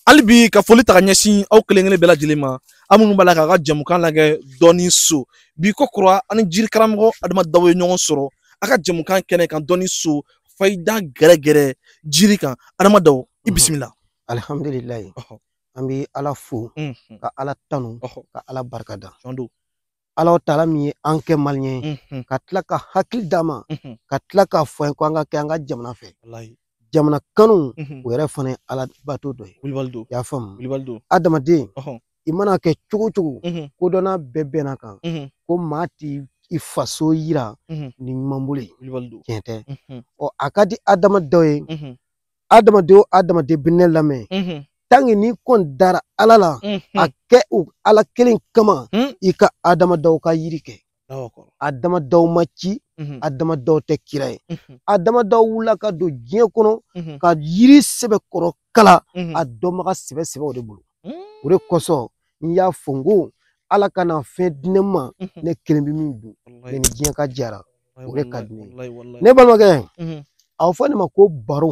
hali bi ka foli ta ka ɲɛsin aw kelen kelen bɛɛ lajɛlen ma an minnu b'a la k'a ka jɛmukan lagɛ dɔnni so bi ko kura an ni jiri karamɔgɔ adama daw ye ɲɔgɔn sɔrɔ a ka jɛmukan kɛnɛ kan dɔnni so fayida gɛrɛgɛrɛ jiri kan adama daw i bisimila alihamdulilayi an bɛ ala fo ka ala tanu ka ala barika da ala taala min ye an kɛ maliyɛn ye mhm. ka tila ka hakili d'an ma mhm. ka tila k'a fɔ an ye ko an ka kɛ an ka jamana fɛ jamana kanu mhm. o yɛrɛ fana ye ala bato dɔ ye i y'a faamu adamaden i mana kɛ cogo cogo kodɔnna bɛɛ bɛnna a kan ko maa t'i i faso yira ni numan bolo ye tiɲɛ tɛ ɔ a ka di adama daw ye adamaden o adamaden bɛ ne lamɛn tanke n'i kɔni dara ala la a kɛ o ala kelen kama i ka adama daw ka yiri kɛ adama daw ma ci adama daw tɛ kira ye adama daw wulila ka don diɲɛ kɔnɔ ka yiri sɛbɛkɔrɔ kalan a dɔnbaga sɛbɛ sɛbɛw de bolo o de kosɔn n y'a fɔ n ko ala kana fɛn di ne ma ne kelen bɛ min dun ne ni diɲɛ ka jɛ a ra o de ka di ne ye ne balimakɛ a bɛ fɔ nin ma ko baro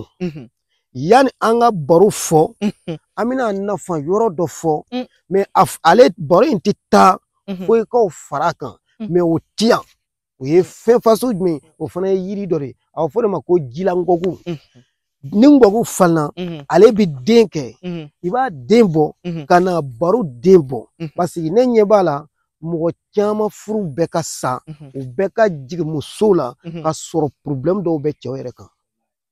yanni an ka baro fɔ an bɛna a nafa yɔrɔ dɔ fɔ mɛ ale baro in tɛ taa fo i k'o fara a kan mɛ o ti yan o ye fɛn fasɔn jumɛn o fana ye yiri dɔ de ye a bɛ fɔ o de ma ko jilankɔku ni ngɔku falenna ale bɛ den kɛ i b'a den bɔ ka na baro den bɔ paseke ne ɲɛ b'a la mɔgɔ caman furu bɛ ka sa u bɛ ka jigin musow la ka sɔrɔ pɔrɔbulɛmu dɔw bɛ cɛw yɛrɛ kan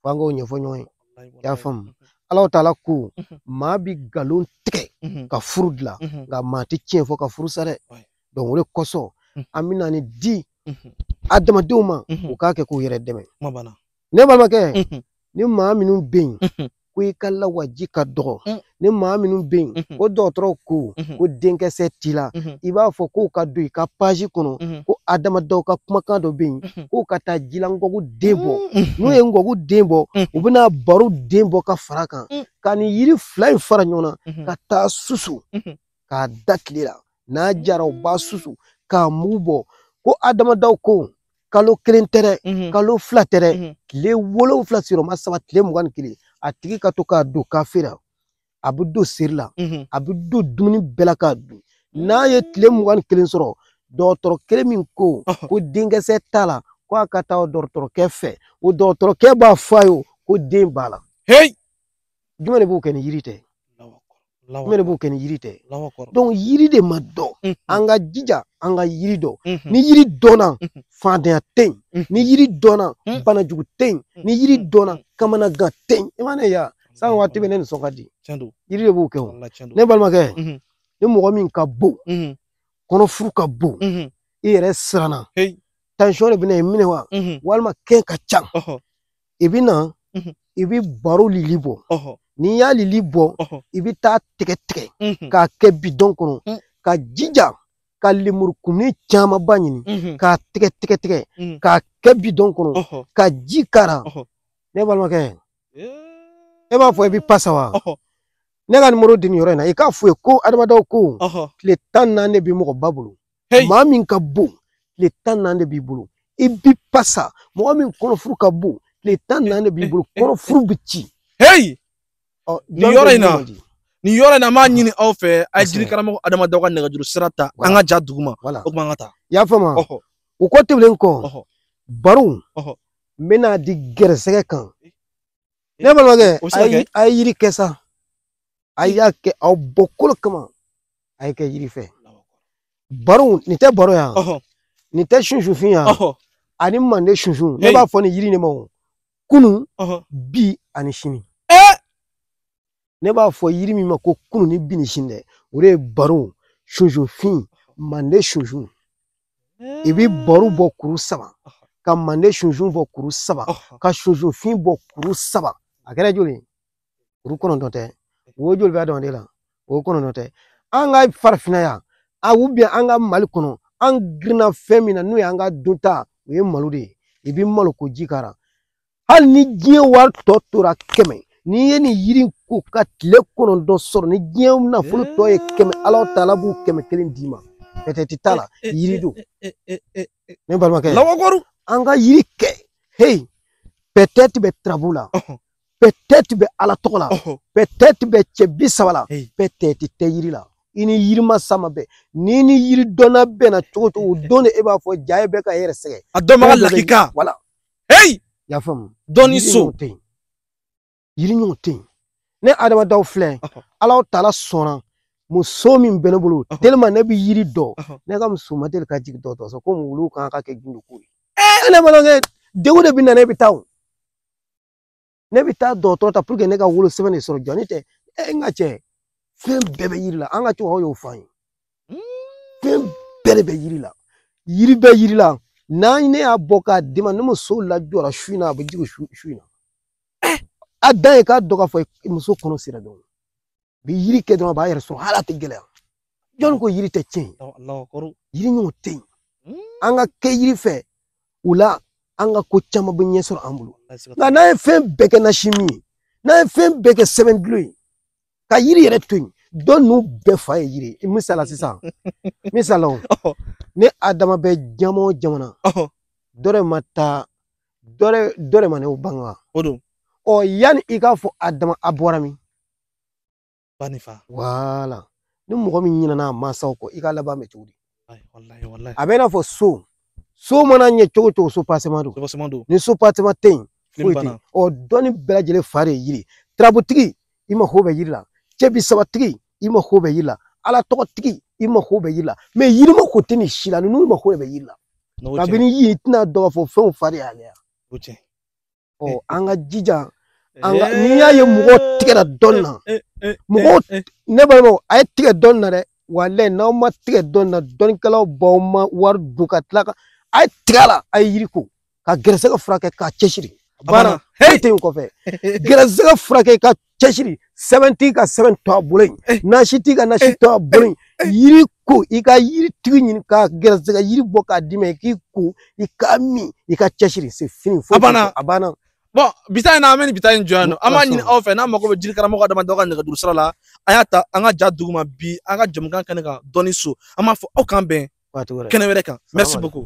f'an k'o ɲɛfɔ ɲɔgɔn ye i y'a faamu ala taala ko maa bi nkalon tigɛ ka furu dilan nka maa tɛ tiɲɛ fɔ ka furu sa dɛ dɔnki o de kosɔn an bɛna nin di adamadenw ma u k'a kɛ k'u yɛrɛ dɛmɛ ne balimakɛ Mhm. ni maa minnu bɛ yen Mhm. ko i ka lawaji ka dɔgɔ Mm. ni maa minnu bɛ yen Mhm. ko dɔgɔtɔrɔw ko Mhm. ko denkisɛ t'i la Mhm. i b'a fɔ k'u ka don i ka paji kɔnɔ Mhm. ko adama daw ka kumakan dɔ bɛ yen Mhm. k'u ka taa jilankɔku den bɔ Mhm. n'u ye ngɔku den bɔ Mhm. u bɛna baro den bɔ ka fara a kan Mm. ka nin yiri fila in fara ɲɔgɔn na Mhm. ka taa susu Mhm. k'a da tile la n'a jara u b'a susu k'a mugu bɔ ko adama daw ko kalo kelen tɛ dɛ mhm. kalo fila tɛ dɛ mhm. tile wolonwula sigiyɔrɔma saba tile mugan ni kelen a tigi ka to k'a don kafe la a bɛ don seri la mhm. a bɛ don dumuni bɛɛ la k'a dun n'a ye tile mugan ni kelen sɔrɔ dɔgɔtɔrɔ kelen min ko ko denkisɛ t'a la ko a ka taa o dɔgɔtɔrɔkɛ fɛ o dɔgɔtɔrɔkɛ b'a fɔ a ye ko den b'a la. jumɛn de b'o kɛ ni yiri tɛ jumɛn de b'o kɛ ni yiri tɛ yiri de ma dɔn an ka jija an ka yiri dɔn ni yiri dɔnna fadenya tɛ yen ni yiri dɔnna banajugu tɛ yen ni yiri dɔnna kamanagan tɛ yen i ma ne ya san waati bɛɛ ne nisɔn ka di yiri de b'o kɛ o ne balimakɛ ni mɔgɔ min ka bon kɔnɔfuru ka bon i yɛrɛ siranna tansiyɔn de bɛ na i minɛ wa walima kɛn ka ca i bɛ na i bɛ baro lili bɔ n'i y'a lili bɔ i bɛ t'a tigɛ tigɛ k'a kɛ bidɔn kɔnɔ ka jija ka lemurukumuni camanba ɲini k'a tigɛ tigɛ tigɛ k'a kɛ bidɔn kɔnɔ ka ji k'a ra ne balimakɛ e b'a fɔ i bɛ pasa wa ne ka nimoro di nin yɔrɔ in na i k'a f'u ye ko adama daw ko tile tan ni naani de bɛ mɔgɔba bolo hey. maa min ka bon tile tan ni naani de b'i bolo i bi pasa mɔgɔ min kɔnɔfuru ka bon tile tan ni naani de b'i bolo kɔnɔfuru bɛ ci hey. oh, nin yɔrɔ in na nin yɔrɔ in na an b'a ɲini aw fɛ a ye jiri karamɔgɔ adama daw ka nɛgɛjuru sira ta an ka ja duguma o tuma an ka taa i y'a faamu o kɔ tɛmɛnen kɔ baro n bɛna di gɛrɛsɛgɛ kan ne balimakɛ a ye yiri kɛ sa a y'a kɛ aw bɔkolo kama a ye kɛ yiri fɛ baro nin tɛ baro yan nin tɛ sunsunfin yan ani mande sunsun ne b'a fɔ ni yiri ne ma ko kunun bi ani sini ne b'a fɔ yiri min ma ko kunun ni bi ni sini dɛ o de ye baro sunsunfin mande sunsun i bɛ baro bɔ kuru saba ka mande sunsun bɔ kuru saba ka sunsunfin bɔ kuru saba a kɛra joli ye kuru kɔnɔntɔn tɛ wo joli bɛ adamaden la wo kɔnɔntɔn tɛ an ka farafinna yan ou bien an ka mali kɔnɔ an girinna fɛn min na n'o ye an ka dunta o ye malo de ye i bɛ malo koji k'a la hali ni diɲɛ wari tɔ tora kɛmɛ n'i ye nin yiri in ko ka tile kɔnɔntɔn sɔrɔ ni diɲɛ nafolo tɔ ye kɛmɛ ala taala b'o kɛmɛ kelen d'i ma peut-être t'a la yiri don ne balimakɛ lawakoru an ka yiri kɛ hey peut-être bɛ turabu la peut-être bɛ ala tɔgɔ la peut-être bɛ cɛ bi saba la peut-être tɛ yiri la i ni yiri masa ma bɛn n'i ni yiri dɔnna bɛnna cogo cogo o don de e b'a fɔ jaa e bɛ ka e yɛrɛ sɛgɛn a dɔnbaga lakika voilà hey y'a faamu dɔnni so yiri ɲɔgɔn tɛ yen ne adama daw filɛ ala taala sɔnna muso min bɛ ne bolo tellement ne bɛ yiri dɔn ne ka muso ma deli ka jigin dɔgɔtɔrɔso ko wulu kan ka kɛ gindo ko ye ee ne balimakɛ degun de bɛ na ne bɛ taa o ne bɛ taa dɔgɔtɔrɔ ta pour que ne ka wolo sɛbɛn de sɔrɔ jɔni tɛ e n ka cɛ fɛn bɛɛ bɛ yiri la an ka cɛkɔrɔba y'o fɔ an ye fɛn bɛɛ de bɛ yiri la yiri bɛ yiri la ni ne y'a bɔ k'a d'i ma n'e muso lajɔra su in na a bɛ jigin su in na a dan ye k'a dɔn k'a fɔ muso kɔnɔ sera dɔrɔn bi yiri kɛ dɔrɔn a b'a yɛrɛ sɔrɔ hali a tɛ gɛlɛya jɔnni ko yiri tɛ tiɲɛ yiri ɲɔgɔn tɛ yen an ka kɛ yiri fɛ o la an ka ko caman bɛ ɲɛ sɔrɔ an bolo nka n'an ye fɛn bɛɛ kɛ nasi min ye n'an ye fɛn bɛɛ kɛ sɛbɛn dulon ye ka yiri yɛrɛ to yen dɔn ninnu bɛɛ fa ye yiri ye misala sisan misala ne adama bɛ jama o jamana dɔ de ma taa dɔ de dɔ de ma ne bange wa o don ɔ yanni i k'a fɔ adama a bɔra min ba ni fa wala ni mɔgɔ min ɲinɛna a masaw kɔ i ka laban bɛ cogo di Wallahi, wallahi, wallahi. a bɛ i n'a fɔ so so mana ɲɛ cogo cogo soubassement don soubassement don ni soubassement tɛ yen fini foyi tɛ yen banna ɔ dɔnni bɛɛ lajɛlen fa de ye yiri ye turabutigi i mako bɛ yiri la cɛ bi sabatigi i mako bɛ yiri la ala tɔgɔtigi i mako bɛ yiri la mais yiri mako tɛ nin si la ninnu mako bɛ yiri la kabini yiri tɛna dɔn k'a fɔ fɛnw fa de y'ale ya ɔ an ka jija an ka n'i y'a ye mɔgɔ tigɛra dɔn na mɔgɔw ne balimaw a ye tigɛ dɔn na dɛ walayi n'aw ma tigɛ dɔn na dɔnnikɛlaw b'aw ma wari dun ka tila ka a ye tigɛ la a ye yiri ko ka gɛrɛsɛgɛ furakɛ ka cɛsiri banna foyi tɛ yen kɔfɛ gɛrɛsɛgɛ furakɛ ka cɛsiri sɛbɛntigi ka sɛbɛn to a bolo yen eh. nasitigi ka nasi eh. to a bolo yen eh. yiri ko i ka yiri tigi ɲini ka gɛrɛsɛgɛ yiri bɔ k'a d'i ma i k'i ko i k'a min i ka cɛsiri c'est fini foyi a banna bon bi ta in na an bɛ nin bi ta in jɔ yan nɔ an b'a ɲini aw fɛ n'an mago bɛ jiri karamɔgɔ adama dɔ ka nɛgɛjuru sira la an y'a ta an ka ja duguma bi an ka jamukan kɛnɛ kan dɔnniso an b'a fɔ aw k'an bɛn kɛnɛ wɛrɛ kan merci beaucoup